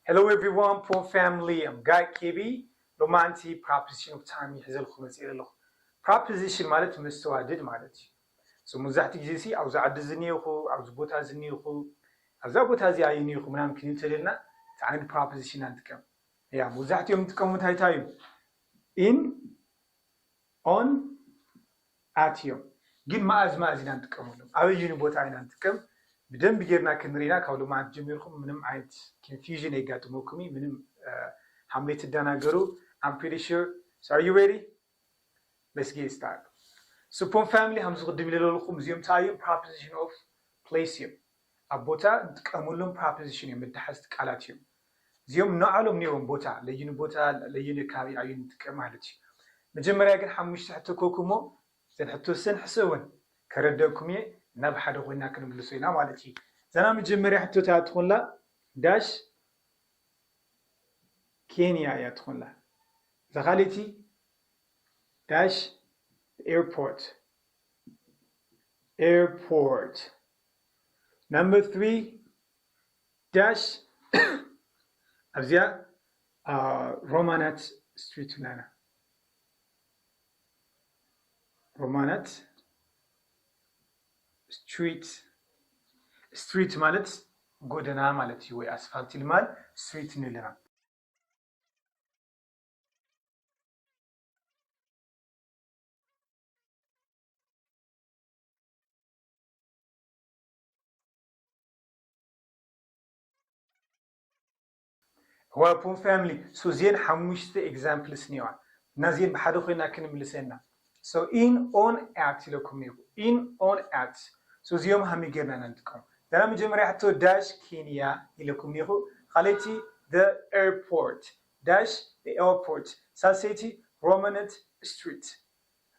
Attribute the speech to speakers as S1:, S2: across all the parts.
S1: Hello everyone Pool family I'm Guy KB ሎማዓንቲ Proposition of Time እየ ሒዘልኩም መፂኤ ዘለኹ Proposition ማለት መስተዋድድ ማለት እዩ So ሙብዛሕትኡ ግዜ ሲ ኣብዚ ዓዲ እዚ እኒኤኹ ኣብዚ ቦታ እዚ እኒኤኹ ኣብዛ ቦታ እዚኣ እኒኤኹ ምናምን ክንብል እንተደሊና እቲ ዓይነት Proposition ኢና ንጥቀም ያ ሙብዛሕትኦም ዝጥቀሙ እንታይ እንታይ እዩ In ኦን ኣትዮም ግን ማኣዝ ማኣዝ ኢና ንጥቀመሎም ኣበዩኒ ቦታ ኢና ንጥቀም ብደንቢ ገይርና ክንሪና ካብ ሎማዓንቲ ጀሚርኩም ምንም ዓይነት ኪንፊውዥን የጋጥመኩም እዩ ምንም ሃምለይ ትዳናገሩ ኣም ፕሪቲ ሹር ሶ ኣር ዩ ሬዲ ሌትስ ጌት ስታርት ስፖን ፋሚሊ ሃምዚ ቅድም ኢለለልኩም እዚኦም ታይ እዮም ፕሮፖዚሽን ኦፍ ፕሌስ እዮም ኣብ ቦታ ንጥቀመሎም ፕራፕዚሽን እዮም መዳሓዝቲ ቃላት እዮም እዚኦም ነዓሎም ነይሮም ቦታ ለይኑ ቦታ ለይኑ ከባቢ ኣዩ ንጥቀም ማለት እዩ መጀመርያ ግን ሓሙሽተ ሕቶ ኮኩ እሞ እዘን ሕቶ ሰን ሕሰበን ከረደእኩም እየ እና ብሓደ ኮይና ክንምልሶ ኢና ማለት እዩ እዛ ናይ መጀመርያ ሕቶ ታይ ትኾንላ ዳሽ ኬንያ እያ ትኾንላ እዛ ካሊቲ ዳሽ ኤርፖርት ኤርፖርት ናብ መጥቢ ዳሽ ኣብዚኣ ሮማናት ስትሪት ናና ሮማናት ስትሪት ስትሪት ማለት ጎደና ማለት እዩ ወይ ኣስፋልቲ ልማል ስትሪት ንለና እዋይ ፖም ፋሚሊ ሶ እዝየን ሓሙሽተ ኤግዛምፕልስ እኒኤዋ እና እዝየን ብሓደ ኮይና ክንምልሰን ኢና ሶ ኢን ኦን ኣት ኢለኩም ነይሩ ኢን ኦን ኣት ሶ እዚኦም ሃመይ ጌርና ኢና ንጥቀም ደራ መጀመርያ ሕቶ ዳሽ ኬንያ ኢለኩም ኒኹ ኻልኣይቲ the airport ዳሽ the airport ሳልሰይቲ ሮመነት ስትሪት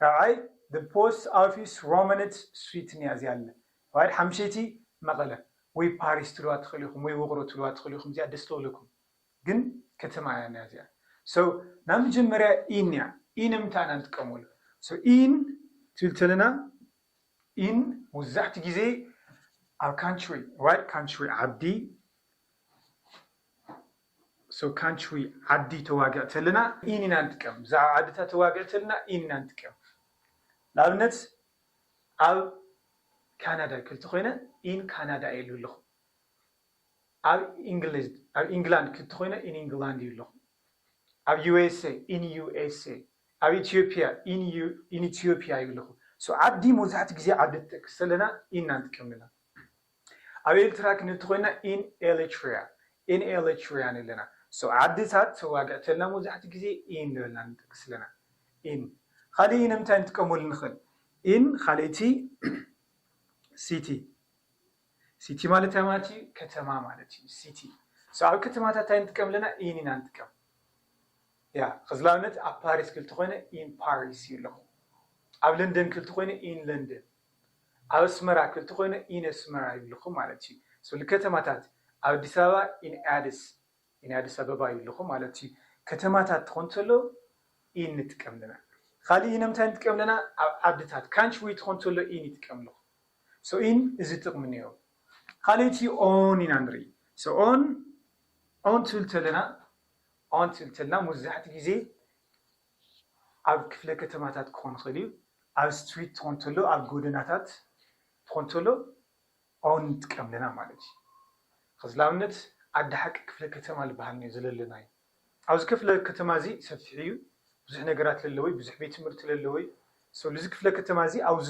S1: ራኣይ The Post Office Romanet Switen እያ እዚኣ ኣለ ራይት ሓምሸይቲ መቐለ ወይ ፓሪስ ትብልዋ ትኽእሉ ኢኹም ወይ ውቕሮ ትብልዋ ትኽእሉ ኢኹም እዚኣ ደስ ትብለኩም ግን ከተማ እያ እኒኣ እዚኣ so ናብ መጀመርያ in እያ in ኣብ ምንታይ ኢና ንጥቀመሉ so in ትብል ተለና in ሙዛሕቲ ግዜ ኣብ country right country ዓዲ So ካንችዊ ዓዲ ተዋግዕ ተለና ኢን ኢና ንጥቀም ብዛዕባ ዓድታት ተዋግዕ ተለና ኢን ኢና ንጥቀም ንኣብነት ኣብ ካናዳ ክልቲ ኮይነ ኢን ካናዳ እየ ልብል ለኹ ኣብ ኢንግሊዝ ኣብ ኢንግላንድ ክልቲ ኮይነ ኢን ኢንግላንድ እዩ ለኹ ኣብ ዩኤስኤ ኢን ዩኤስኤ ኣብ ኢትዮጵያ ኢን ኢን ኢትዮጵያ እዩ ለኹ So ዓዲ መብዛሕትኡ ግዜ ዓዲ ትጠቅስ ተለና ኢን ኢና ንጥቀም ለና። ኣብ ኤርትራ ክንብቲ ኮይና ኢን ኤለትሪያ in Eletria ንብለና so ዓድታት ተዋግዕተልና መብዛሕትኡ ግዜ in ንበልና ንጠቅስ ኣለና in ካልእ ንምንታይ ንጥቀመሉ ንክእል in ካልእ እቲ city city ማለት እንታይ ማለት እዩ ከተማ ማለት እዩ city so ኣብ ከተማታት እንታይ ንጥቀም ኣለና in ኢና ንጥቀም ያ ከዚ ንኣብነት ኣብ ፓሪስ ክልቲ ኮይነ in Paris ይብለኹ ኣብ ለንደን ክልቲ ኮይነ in London ኣብ ኣስመራ ክልተ ኮይኑ ኢን ኣስመራ ይብልኹም ማለት እዩ ስብሊ ከተማታት ኣብ ኣዲስ ኣበባ ኢን ኣድስ ኢን ኣድስ ኣበባ ይብልኹም ማለት እዩ ከተማታት ትኾን ተሎ ኢን ንጥቀም ኣለና ኻሊእ ኢን ኣብ ምንታይ ንጥቀም ኣለና ኣብ ዓድታት ካንች ወይ ትኾን ተሎ ኢን ይጥቀም ኣለኹ ሶ ኢን እዚ ጥቅሚ እኒኦ ኻሊእ እቲ ኦን ኢና ንርኢ ሶ ኦን ኦን ትብል ተለና ኦን ትብል ተለና ሙዛሕትኡ ግዜ ኣብ ክፍለ ከተማታት ክኾን ይኽእል እዩ። ኣብ ስትሪት ትኾን ተሎ ኣብ ጎደናታት ትኾን ተሎ ኦን ንጥቀም ኣለና ማለት እዩ። ኸዚ ላብነት ዓዲ ሓቂ ክፍለ ከተማ ልበሃል እኒኦ ዘለለና እዩ። ኣብዚ ከፍለ ከተማ እዚ ሰፊሕ እዩ ብዙሕ ነገራት ለለዎ እዩ ብዙሕ ቤት ትምህርቲ ለለዎ እዩ። ሰለዚ ክፍለ ከተማ እዚ ኣብዙ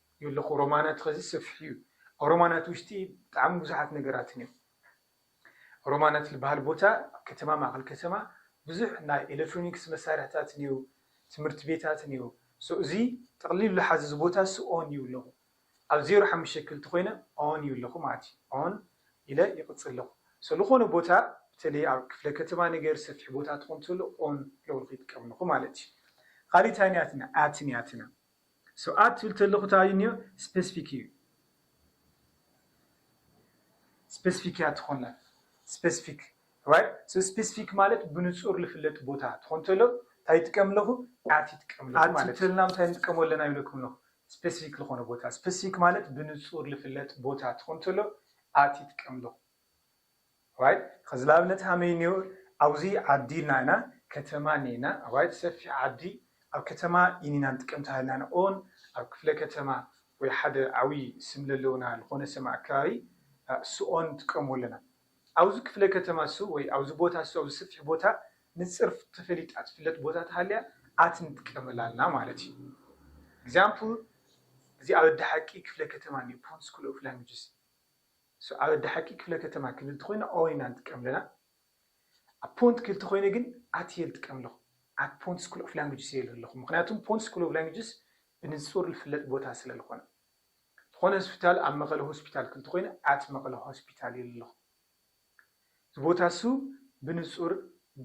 S1: የለኹ ሮማናት ኸዚ ሰፊሕ እዩ ኣብ ሮማናት ውሽጢ ብጣዕሚ ብዙሓት ነገራትን እዮም ሮማናት ልበሃል ቦታ ከተማ ማእኸል ከተማ ብዙሕ ናይ ኤለትሮኒክስ መሳርሕታት እንየው ትምህርት ቤታት እንየው so እዚ ጠቕሊሉ ልሓዝ እዚ ቦታ እሱ on እዩ ኣለኹ ኣብ ዜሮ ሓሙሽተ ክልተ ኾይነ on እዩ ኣለኹ ማለት እዩ on ኢለ ይቕፅል ኣለኹ so ልኾነ ቦታ ብተለይ ኣብ ክፍለ ከተማ ነገር ሰፊሕ ቦታ ትኾን ተሎ on ለበልኹ ይጥቀም ኣለኹ ማለት እዩ ኻሊእ ታይ ንያትና at ንያትና ስብኣት ትብል ተለኩ ታይ እዩ ኒዮ ስፐስፊክ እዩ ስፐስፊክ እያ ትኮና ስፐስፊክ ራይት ሶ ስፐስፊክ ማለት ብንጹር ልፍለጥ ቦታ ትኮን ተሎ ታይ ይጥቀም ኣለኩ ኣት ይጥቀም ኣለኩ ማለት ኣት ተልና ምንታይ ንጥቀሞ ኣለና ይብለኩም ኣለኩ ስፐስፊክ ልኮነ ቦታ ስፐስፊክ ማለት ብንጹር ልፍለጥ ቦታ ትኮን ተሎ ኣት ይጥቀም ኣለኩ። Right ኸዚ ልኣብነት ሃመይ እንዮ ኣውዚ ዓዲ እልና ኢና ከተማ እኒና Right ሰፊሕ ዓዲ ኣብ ከተማ ኢኒና ንጥቀም ተሃልና ንኦን ኣብ ክፍለ ከተማ ወይ ሓደ ዓውይ ስም ለለውና ልኾነ ሰም ኣከባቢ ስኦን ንጥቀሞ ኣለና ኣውዚ ክፍለ ከተማ ሱ ወይ ኣውዚ ቦታ ሱ ኣውዚ ሰፊሕ ቦታ ንጽር ተፈሊጣ ትፍለጥ ቦታ ተሃልያ ኣት ንጥቀመላ ኣልና ማለት እዩ Example እዚ ኣበዲ ሓቂ ክፍለ ከተማ እኒዮ Pondskull of Languages። ሱዓብ ኣዲ ሓቂ ክፍለ ከተማ ክብል ተኮይነ ኦይ ኢና ንጥቀም ኣለና ኣብ ፖንት ክል ተኮይነ ግን ኣት እየ ልጥቀም ኣለኩ ኣት ፖንት ስኩል ኦፍ ላንጉጅስ እየ እል ኣለኩ ምክንያቱም ፖንት ስኩል ኦቭ ላንጉጅስ ብንጹር ልፍለጥ ቦታ ስለ ልኮነ ልኮነ ስፒታል ኣብ መቀለ ሆስፒታል ክል ተኮይነ ኣት መቀለ ሆስፒታል እየ እል ኣለኩ እዚ ቦታ እሱ ብንጹር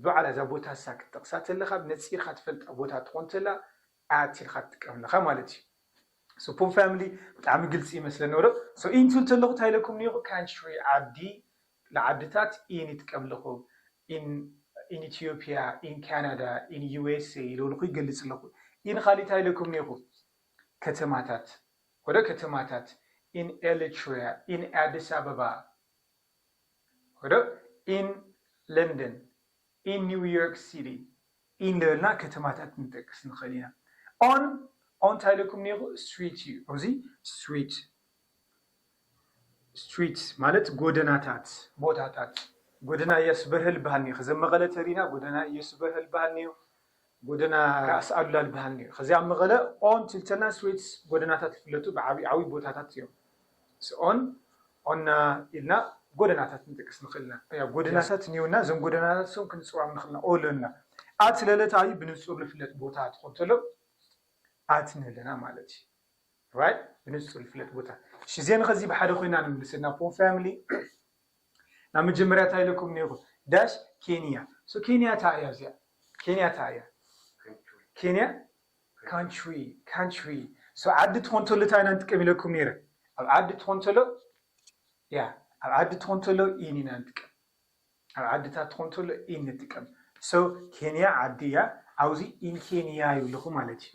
S1: ብባዕላ እዛ ቦታ እሳ ክትጠቅሳ ተለካ ነጺርካ ትፈልጣ ቦታ ትኮን ተላ ኣያት ኢልካ ትጥቀም ኣለኻ ማለት እዩ። So Pum Family ብጣዕሚ ግልፂ ይመስለኒ ነበረ። So ኢንቱ እንተለኹ ታይ ኢለኩም ኔሩ Country ዓዲ ንዓድታት in ይጥቀም ኣለኹ in in Ethiopia in Canada in USA ኢለውልኹ ይገልፅ ኣለኹ። In ኻሊእ ታይ ኢለኩም ኔርኹ ከተማታት ወደ ከተማታት in Elitrea in ኣዲስ ኣበባ ወደ in London in New York City in ዳበልና ከተማታት ንጠቅስ ንኽእል ኢና። on on እንታይ ኢለኩም እኒኤኹ street እዩ ኣብዚ street streets ማለት ጎደናታት ቦታታት ጎደና እያሱ በርሀ ልበሃል እኒኦ ከዚ ኣብ መቐለ ተሪና ጎደና እየሱ በርሀ ልበሃል እኒኦ ጎደና ራእሲ ኣሉላ ልበሃል ነይሩ። ኸዚ ኣብ መቐለ ኦን ትልተና ስዌትስ ጎደናታት ልፍለጡ ብዓብይ ዓብይ ቦታታት እዮም። ምስ ኦን፣ ኦና ኢልና ጎደናታት ንጥቅስ ንኽእል ኢና። ኣያ ጎደናታት እኒኡና፣ እዞም ጎደናታት እሶም ክንፅውዖም ንኽእል ኢና። ኦሎ እና ኣት ለለት ኣዩ ብንፁር ልፍለጥ ቦታ ትኾን ተሎ ኣት ንለና ማለት እዩ። ራይት ብንፁር ልፍለጥ ቦታ። እሺ እዜን ኸዚ ብሓደ ኮይና ንምልሰ እና ፖን ፋሚሊ። ናብ መጀመርያ ታይ ኢለኩም ኔሩ ዳሽ ኬንያ so ኬንያ ታይ እያ እዚኣ ኬንያ ታይ እያ ኬንያ ካንትሪ ካንትሪ so ዓዲ ትኾን ተሎ ታይ ኢና ንጥቀም ኢለኩም ኔረ ኣብ ዓዲ ትኾን ተሎ ያ ኣብ ዓዲ ትኾን ተሎ in ኢና ንጥቀም ኣብ ዓድታት ትኾን ተሎ in ንጥቀም so ኬንያ ዓዲ እያ ኣብዚ in ኬንያ ይብልኹ ማለት እዩ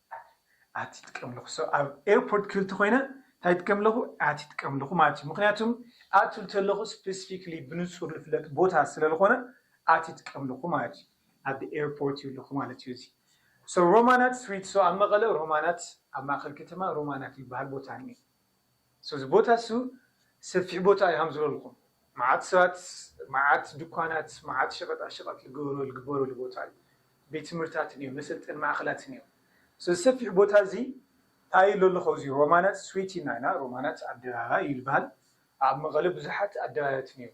S1: ኣቲ ትቀምለኹ ሰብ ኣብ ኤርፖርት ክብል ተኾይነ ታይ ትከምለኹ ኣቲ ትቀምለኹ ማለት እዩ ምክንያቱም ኣቱ ልተለኹ ስፐሲፊክሊ ብንፁር ልፍለጥ ቦታ ስለልኾነ ኣቲ ትቀምለኹ ማለት እዩ ኣብ ኤርፖርት እዩ ለኹ ማለት እዩ እዚ ሶ ሮማናት ስትሪት ሶ ኣብ መቐለ ሮማናት ኣብ ማእኸል ከተማ ሮማናት ልበሃል ቦታ እኒኤ ሰዚ ቦታ እሱ ሰፊሕ ቦታ እዩ ሃምዝበልኩም ማዓት ሰባት ማዓት ድኳናት ማዓት ሸቀጣ ሸቀጥ ልግበሮ ልግበረሉ ቦታ እዩ ቤት ትምህርታትን እዩ መሰልጠኒ ማእከላትን እዩ ሰዚ ሰፊሕ ቦታ እዚ ታይ እሎ ኣለኩ ኣብዚ ሮማናት ስዊት ኢና ኢና ሮማናት ኣደባባይ እዩ ልባሃል ኣብ መቀለ ብዙሓት ኣደባያትን እዩ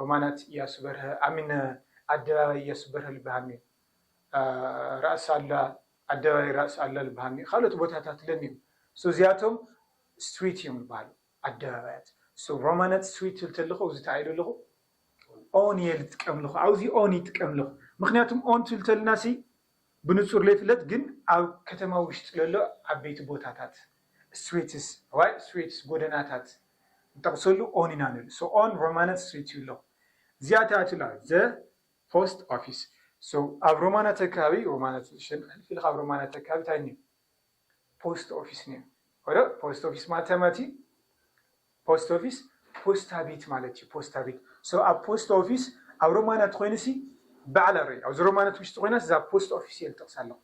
S1: ሮማናት እያሱ በርሀ ኣሚን ኣደባባይ እያሱ በርሀ ልባሃል እዩ ራእሲ ኣሉላ ኣደባባይ ራእሲ ኣሉላ ልበሃል ነይሩ ካልኦት ቦታታት ለን እዮም so እዚኣቶም ስትሪት እዮም ልበሃሉ ኣደባባያት so ሮማናት ስትሪት ትብል ተለኹ ኣብዚ ተዓይሉ ኣለኹ ኦን እየ ልጥቀም ኣለኹ ኣብዚ ኦን ይጥቀም ኣለኹ ምክንያቱም ኦን ትብል ተልና ሲ ብንጹር ለይፍለጥ ግን ኣብ ከተማ ውሽጢ ለሎ ዓበይቲ ቦታታት ስትሪትስ ዋይ ስትሪትስ ጎደናታት ንጠቕሰሉ ኦን ኢና ንብል ሶ ኦን ሮማናት ስትሪት ይብሎ እዚኣ ተኣትላ ዘ ፖስት ኦፊስ so ኣብ ሮማናተ ከባቢ ሮማናተ ሽን ሕልፍ ኢልካ ኣብ ሮማናተ ከባቢ ታይ እኒኦ ፖስት ኦፊስ እኒኦ ወረ ፖስት ኦፊስ ማለት ታይ ማለት እዩ ፖስት ኦፊስ ፖስታ ቤት ማለት እዩ ፖስታ ቤት so ኣብ ፖስት ኦፊስ ኣብ ሮማናት ኮይኑ ሲ ባዕላ ርእ ኣብዚ ሮማናት ውሽጢ ኮይና እዛ ፖስት ኦፊስ እየ ልጠቅሳ ኣለኩ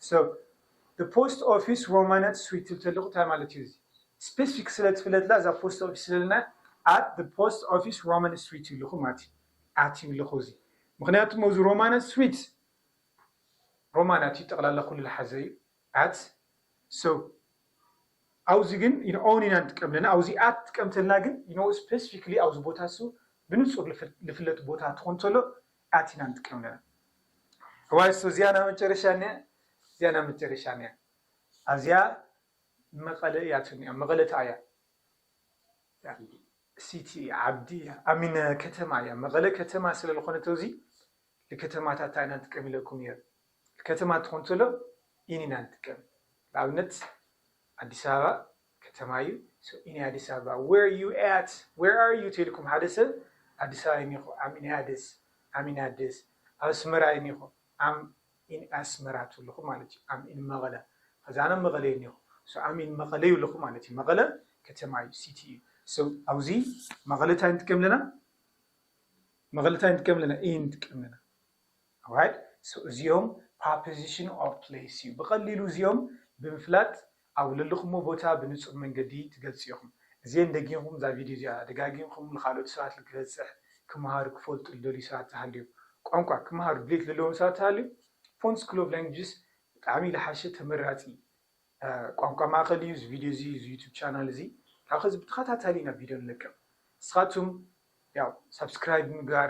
S1: so the post office ሮማናት ስዊት ትብል ተለኩ ታይ ማለት እዩ እዚ ስፔሲፊክ ስለ ትፍለጥላ እዛ ፖስት ኦፊስ ስለልና at the post office ሮማናት ስዊት ይብልኩ ማለት እዩ ኣትዩ ኣለኹ እዚ ምኽንያቱ እሞ እዚ ሮማነ ስዊት ሮማን ኣትዩ ጠቕላላ ኩሉ ልሓዘ እዩ ኣት ሰው ኣውዚ ግን ን ኦን ኢና ንጥቀም ለና ኣውዚ ኣት ትጥቀም ተልና ግን ን ስፐሲፊክሊ ኣውዚ ቦታ ሱ ብንጹር ልፍለጥ ቦታ ትኹን ተሎ ኣት ኢና ንጥቀም ለና እዋይ ሶ እዚኣ ናብ መጨረሻ ኒኣ እዚኣ ናብ መጨረሻ ኒኣ ኣዚኣ መቐለ እያ ትኒኣ መቐለ ተኣያ ሲቲ ዓዲ ኣሚነ ከተማ እያ መቐለ ከተማ ስለ ልኾነ ተውዚ ልከተማታት ታይ ኢና ንጥቀም ኢለኩም እየ ልከተማ ትኾን ተሎ ኢን ኢና ንጥቀም ልኣብነት ኣዲስ ኣበባ ከተማ እዩ ኢን ኣዲስ ኣበባ ዌር ዩ ኣት ዌር ኣር ዩ ተልኩም ሓደ ሰብ ኣዲስ ኣበባ ኢኒኹ ኣም ኢን ኣዲስ ኣም ኢን ኣዲስ ኣብ ኣስመራ ኢኒኹ ኣም ኢን ኣስመራ ትብልኹ ማለት እዩ ኣም ኢን መቐለ ኸዚ ኣነ ኣብ መቐለ እየ እኔኹ ሶ ኣም ኢን መቐለ ይብልኹ ማለት እዩ መቐለ ከተማ እዩ ሲቲ እዩ ሶ ኣውዚ መቐለ ታይ ንጥቀም ኣለና መቐለ ታይ ንጥቀም ኣለና ኢን ንጥቀም ኣለና ኣዋይ ሶ እዚኦም ፓፕዚሽን ኦፍ ፕሌስ እዩ ብቐሊሉ እዚኦም ብምፍላጥ ኣብ ለለኹሞ ቦታ ብንጹር መንገዲ ትገልጹ ኢኹም። እዚኤን ደጊምኩም እዛ ቪድዮ እዚኣ ደጋጊምኩም ንኻልኦት ሰባት ልክበጽሕ ክመሃሩ ክፈልጡ ልደልዩ ሰባት ተሃልዮም ቋንቋ ክመሃሩ ድሌት ለለዎም ሰባት ተሃልዮም Font School of Languages ብጣዕሚ ልሓሸ ተመራጺ ቋንቋ ማእከል እዩ እዚ ቪድዮ እዚ እዚ ዩቱብ ቻናል እዚ ካብ ኸዚ ብተኸታታሊ ኢና ቪድዮ ንለቅቕ ንስኻቱም ያው ሳብስክራይብ ምግባር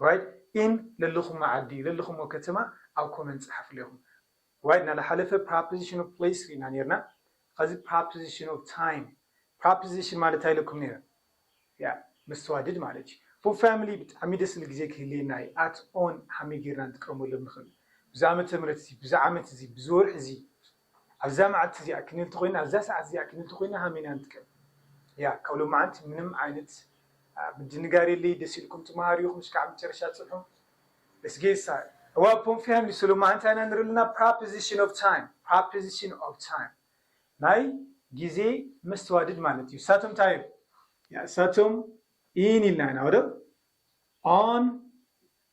S1: ራይድ ኢን ለለኹሞ ዓዲ ለለኹሞ ከተማ ኣብ ኮመንት ጸሓፉለይ ኢኹም ራይድ ናላሓለፈ ፕራፕዚሽን ኦፍ ፕለይስ ሪኢና ኔርና ኸዚ ፕራፕዚሽን ኦፍ ታይም ፕራፕዚሽን ማለት ታይ ኢለኩም ኔረ ያ መስተዋድድ ማለት እዩ ፎር ፋሚሊ ብጣዕሚ ደስ ዝብል ግዜ ክህልየና እዩ ኣት ኦን ሀመይ ጌርና ንጥቀመሎም ንኽእል ብዚ ኣመተ ምህረት እዚ ብዚ ዓመት እዚ ብዚ ወርሒ እዚ ኣብዛ መዓልቲ እዚኣ ክንልቲ ኮይና ኣብዛ ሰዓት እዚኣ ክንልቲ ኮይና ሃሚና ንጥቀም እያ ካብ ሎማዓንቲ ምንም ዓይነት ምድንጋር የለይ ደስ ኢልኩም ትማሃሩ ኢኩም እስካዕ መጨረሻ ፅንሑ Let's get started እዋ ፖም ፋሚሊ ሶ ሎማዓንቲ እንታይ ኢና ንርኢ ኣለና ፕራፕዚሽን ኦፍ ታይም ፕራፕዚሽን ኦፍ ታይም ናይ ግዜ መስተዋድድ ማለት እዩ እሳቶም እንታይ እዮም እሳቶም ኢን ኢልና ኢና ወዶ ኦን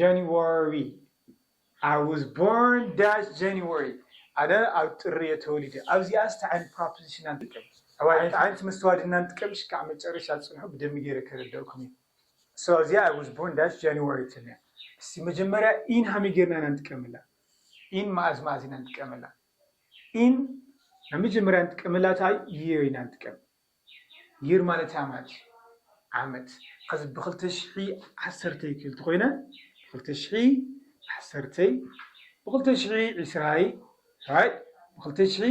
S1: January I was born that January ኣነ ኣብ ጥሪ እየ ተወሊደ ኣብዚኣስ ታይ ዓይነት ፕራፖዚሽን ኢና ንጥቀም ኣሕዋተይ ዓይነት መስተዋት ድና ንጥቀም ሽካዕ መጨረሻ ፅንሑ ብደንቢ ገይረ ከረደእኩም እየ so ኣብዚኣ I was born that January ትብልያ እስቲ መጀመርያ in ሃመይ ገይርና ኢና ንጥቀመላ in መዓዝ መዓዝ ኢና ንጥቀመላ in ናይ መጀመርያ ንጥቀመላ ታይ year ኢና ንጥቀም Year ማለት ኣማት እዩ ዓመት ኸዚ ብ ክልተ ሽሒ ዓሰርተይ ክብል ተኾይነ ብ ክልተ ሽሒ ዓሰርተይ ብ ክልተ ሽሒ ዕስራይ ራይት ብ ክልተ ሽሒ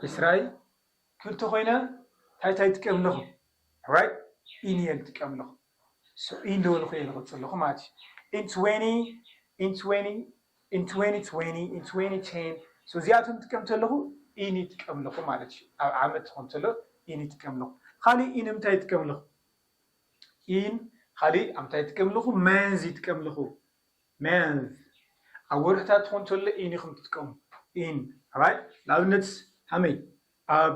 S1: ዕስራይ ክብል ተኾይነ እንታይ እንታይ ትጥቀም ኣለኹ ራይት ኢን እየ ዝጥቀም ኣለኹ ሶ ኢን ዶ ኢልኹ እየ ዝቕጽል ዘለኹ ማለት እዩ ኢን ትወኒ ኢን ትወኒ in twenty twenty in twenty ten so እዚኣቶም ትጥቀም ተለኹ in ይጥቀም ኣለኹ ማለት እዩ ኣብ ዓመት ትኾን ተሎ in ይጥቀም ኣለኹ ኻሊእ in እንታይ ይጥቀም ኣለኹ in ኻሊእ ኣብ እንታይ ይጥቀም ኣለኹ መንዝ ይጥቀም ኣለኹ መንዝ ኣብ ወርሕታት ትኾን ተሎ in ኢኹም ትጥቀሙ in right ንኣብነት ሃመይ ኣብ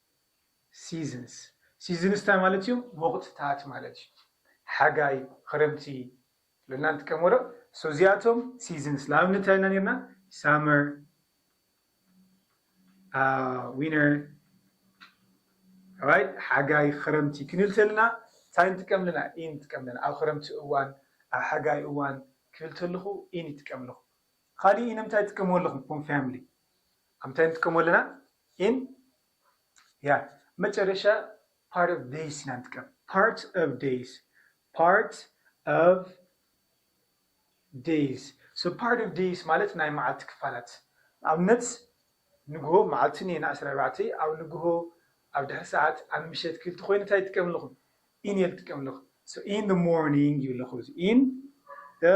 S1: Seasons፣ ሲዝንስ ታይ ማለት እዩ? ወቕትታት ማለት እዩ። ሓጋይ፣ ኽረምቲ ኢልና ንጥቀም ወረ so እዚኣቶም Seasons ንኣብነት ታይ ኢልና ኔርና Summer፣ Winter፣ right ሓጋይ፣ ኽረምቲ ክንብል ተለና ታይ ንጥቀም ኣለና in ንጥቀም ኣለና ኣብ ኽረምቲ እዋን ኣብ ሓጋይ እዋን ክብል ተለኹ in ይጥቀም ኣለኹ። ኻሊእ in ንምንታይ ትጥቀምዎ ኣለኹም ፎም ፋሚሊ? ኣብ ምንታይ ንጥቀሞ ኣለና in ያ መጨረሻ part of days ኢና ንጥቀም part of days part of days so part of days ማለት ናይ መዓልቲ ክፋላት ንኣብነት ንግሆ መዓልቲ እኔ ንዓሰርተ ኣርባዕተ ኣብ ንግሆ ኣብ ድሕሪ ሰዓት ኣብ ምሸት ክልቲ ኮይኑ እንታይ ይጥቀም ኣለኹ in እየ ዝጥቀም ኣለኹ so in the morning ይብለኹ እዚ in the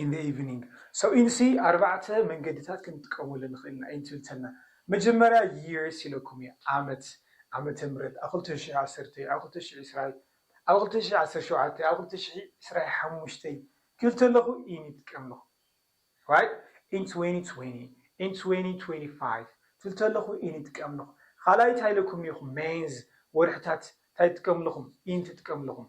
S1: in the evening so in c ኣርባዕተ መንገድታት ክንጥቀመሉ ንኽእል ኢና in ትብል ተላ መጀመርያ years ኢለኩም እየ ዓመት ዓመተ ምህረት ኣብ ክልተ ሽሕ ዓሰርተይ ኣብ ክልተ ሽሕ ዕስራይ ኣብ ክልተ ሽሕ ዓሰርተ ሸውዓተይ ኣብ ክልተ ሽሕ ዕስራይ ሓሙሽተይ ክብል ተለኹ in ይጥቀም ኣለኹ right in twenty twenty in twenty twenty five ትብል ተለኹ in ይጥቀም ኣለኹ ካልኣይ እንታይ ኢለኩም እኔኹ መንዝ ወርሕታት እንታይ ትጥቀሙ ኣለኹም in ትጥቀሙ ኣለኹም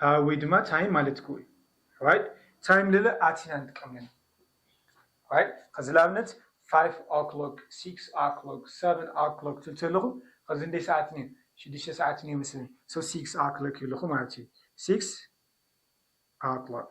S1: ኣህ ወይ ድማ ታይም ማለትኩ እዩ ራይት ታይም ልለ ኣቲና ንጥቀመሉ ራይት ከዚ ልኣብነት ፋይፍ ኦክሎክ ሲክስ ኦክሎክ ሰቨን ኦክሎክ ትብል ተለኹ ከዚ ንደይ ሰዓት ኒዩ ሽዱሽተ ሰዓት ኒዩ መስለኒ ሶ ሲክስ ኦክሎክ ይብለኹ ማለት እዩ ሲክስ ኦክሎክ።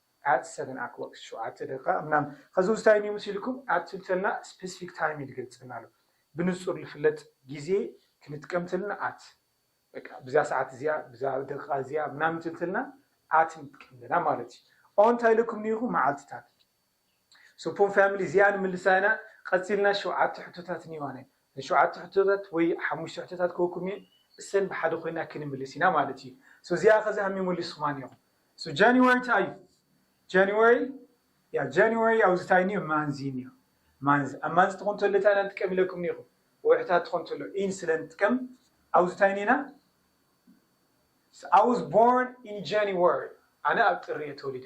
S1: at seven oclock ሸውዓተ ደቂቃ ምናምን ከዚ ውስታይ እንዩ መሲልኩም at ትብልተልና ስፐሲፊክ ታይም ልገልጸልና ኣሎ ብንጹር ልፍለጥ ግዜ ክንጥቀም ተልና at በቃ ብዛ ሰዓት እዚኣ ብዛ ደቂቃ እዚኣ ምናምን ትብልተልና at ንጥቀም ኣለና ማለት እዩ on ታይ ኢለኩም ኔርኩ መዓልትታት Supon family እዚኣ ንምልሳ ኢና ቐጺልና ሸውዓተ ሕቶታት እንየዋነ እዘን ሸውዓተ ሕቶታት ወይ ሓሙሽተ ሕቶታት ክህበኩም እየ እሰን ብሓደ ኮይና ክንምልስ ኢና ማለት እዩ so እዚኣ ከዚ ሃም መሊስኩማ ኔርኩም so January ታይ እዩ January ያ January ኣብዚ ታይ እንዮ ማንዝ እዩ እንዮ ማንዝ ኣብ ማንዝ ትኾን ተሎ ታይ ኢና ንጥቀም ኢለኩም ኔርኩ ወርሕታት ትኾን ተሎ ኢን ስለ ንጥቀም ኣብዚ ታይ ኔና I was born in January ኣነ ኣብ ጥሪ እየ ተወሊደ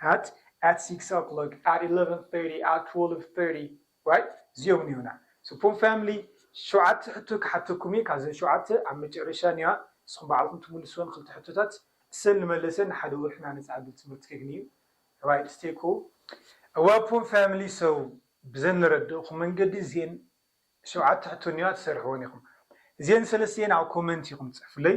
S1: at at six oclock at eleven thirty at twelve thirty right እዚኦም እኒኦና ስፑን ፋሚሊ ሸውዓተ ሕቶ ክሓተኩም እየ ካብዘን ሸውዓተ ኣብ መጨረሻ እኒዋ ንስኹም ባዕልኹም ትምልስወን ክልተ ሕቶታት እሰን ንመለሰ ንሓደ ወርሒ እና ነፃ ዕድል ትምህርቲ ከግኒ እዩ right stay cool እዋፑን ፋሚሊ so ብዘን ንረድእኹም መንገዲ እዚኤን ሸውዓተ ሕቶ እኒዋ ትሰርሕወን ኢኹም እዚኤን ሰለስቲኤን ኣብ ኮመንት ኢኹም ትፅሕፉለይ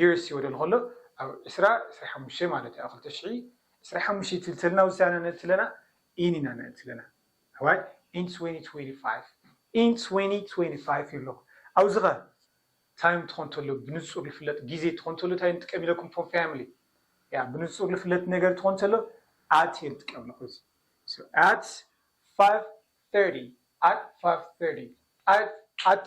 S1: Years ወደ ንኸሎ ኣብ ዕስራ ዕስራ ሓሙሽተ ማለት እዩ ኣብ ክልተ ሽሕ ዕስራ ሓሙሽተ ይትልተልና ውሳነ ነእትለና in ኢና ነእትለና ኣሕዋይ in twenty twenty five in twenty twenty five ይብሎ ኣብዚ ከ ታይም ትኾን ተሎ ብንጹር ልፍለጥ ግዜ ትኾን ተሎ ታይ ንጥቀም ኢለኩም ፎም ፋሚሊ ያ ብንጹር ልፍለጥ ነገር ትኾን ተሎ at እየ ዝጥቀም ኣለኹ እዚ so at five thirty at five thirty at at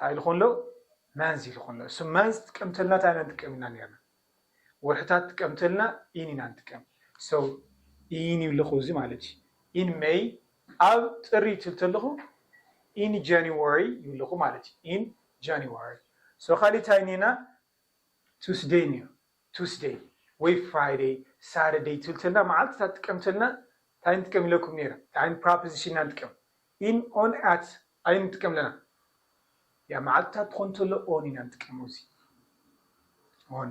S1: ታይ ኢሉ ከሎ መንዝ ኢሉ ከሎ እሱ መንዝ ትቀምተልና ታይ ኢና ንጥቀም ኢና ነርና ወርሕታት ትቀምተልና in ኢና ንጥቀም so in ይብልኹ እዚ ማለት እዩ in May ኣብ ጥሪ ትብል ተለኹ in January ይብልኹ ማለት እዩ in January so ካሊእ ታይ እኒኤና Tuesday እኒኦ Tuesday ወይ Friday Saturday ትብል ተለና መዓልትታት ትቀምተልና ታይ ንጥቀም ኢለኩም ነይረ ታይ ዓይነት ፕራፕዚሽን ኢና ንጥቀም in on at ኣይ ንጥቀም ኣለና ያ መዓልትታት ትኾን ተሎ on ኢና ንጥቀም ኣብዚ on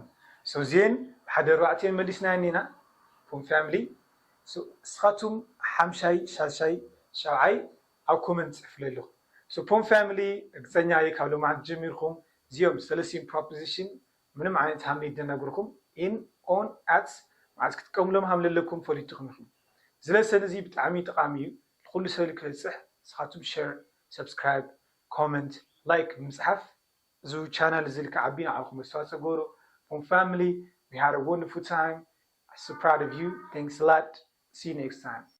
S1: so እዚኤን ብሓደ ኣርባዕቲኤን መሊስናየን ኔና from family so እስኻቱም ሓምሻይ ሻሻይ ሻብዓይ ኣብ comment ጽሕፉለይ ኣለኹም so from family ርግጸኛ እየ ካብ ሎማዓንቲ ጀሚርኩም እዚኦም ሰለስቲኤን proposition ምንም ዓይነት ሃምሊ ድነግርኩም in on at መዓዝ ክትጥቀምሎም ሃምለለኩም ፈሊጥኩም ኢኩም ዝለ ሰል እዚ ብጣዕሚ ጠቃሚ እዩ ልኩሉ ሰል ክበፅሕ ንስካቱም ሸር ሰብስክራይብ comment like ብምፅሓፍ እዙ ቻናል እዝል ክዓቢ ንዓኩም ኣስተዋፅኦ ግበሩ ፎም ፋምሊ we had a wonderful time so proud of you thanks a lot see you next time